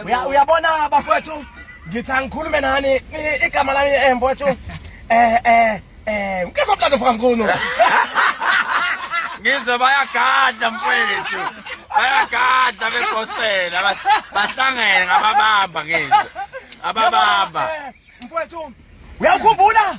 uyabona bafowethu ngithi angikhulume nani igama lami eh mfowethu eh eh eh ngizomlanda mfoka mkhulu ngizwe bayagadla mfowethu bayagadla begospel bahlangene ngababamba ngizwe ababamba mfowethu uyakhumbula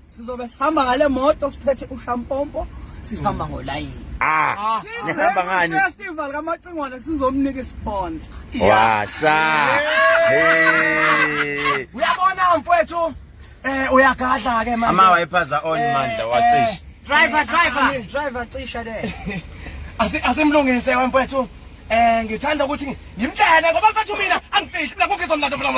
sizobe sihamba ngale moto siphethe ushampompo sihamba hmm. ngolayini Ah, ah nihamba ngani? Festival kamacingwane sizomnika isponsa. Washa. Hey. Uyabona mfowethu eh uyagadla ke manje. Ama wayiphaza on eh, mandla wacisha. Eh, driver driver ah, driver cisha le. Asi asimlungise wemfowethu. Eh ngithanda ukuthi ngimtshele ngoba mfowethu mina angifihli mina kukho izomlando mina.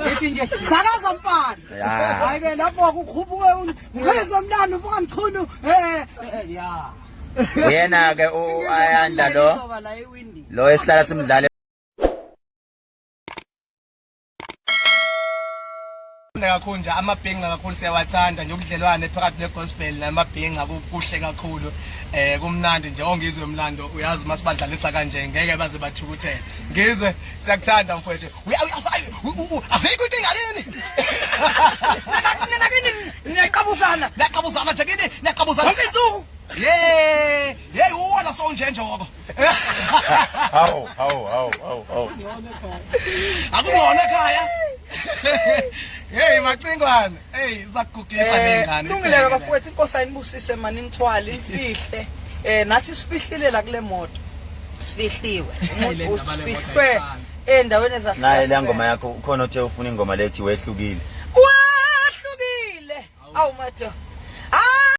Ngithi nje sakaza mfana. Hayi ke lapho kukhuphuke umkhizo omlando mfoka mchunu. Eh ya. Yena ke u Ayanda lo. Lo esihlala simdlale kakhulu nje amabhinga kakhulu siyawathanda nje ubudlelwane phakathi ne-gospel namabhinga kuhle kakhulu eh kumnandi nje ongizwe umlando uyazi uma sibadlalisa kanje ngeke baze bathukuthele ngizwe siyakuthanda mfowethu azikho inkinga yini nina kini niyaqabuzana niyaqabuzana nje kini niyaqabuzana zonke insuku ye ye uwona so njenjoko hawu hawu hawu hawu hawu akungona ekhaya Hey macingwane hey zakugugisa lengane eh, Lungileka bafowethu inkosi ayinibusise mani nithwale imfihle eh nathi sifihlile la kule moto sifihliwe umuntu usifihlwe Endaweni ezahlukene. Naye le ngoma yakho ukhona othe ufuna ingoma lethi wehlukile. Wehlukile. Awu madoda.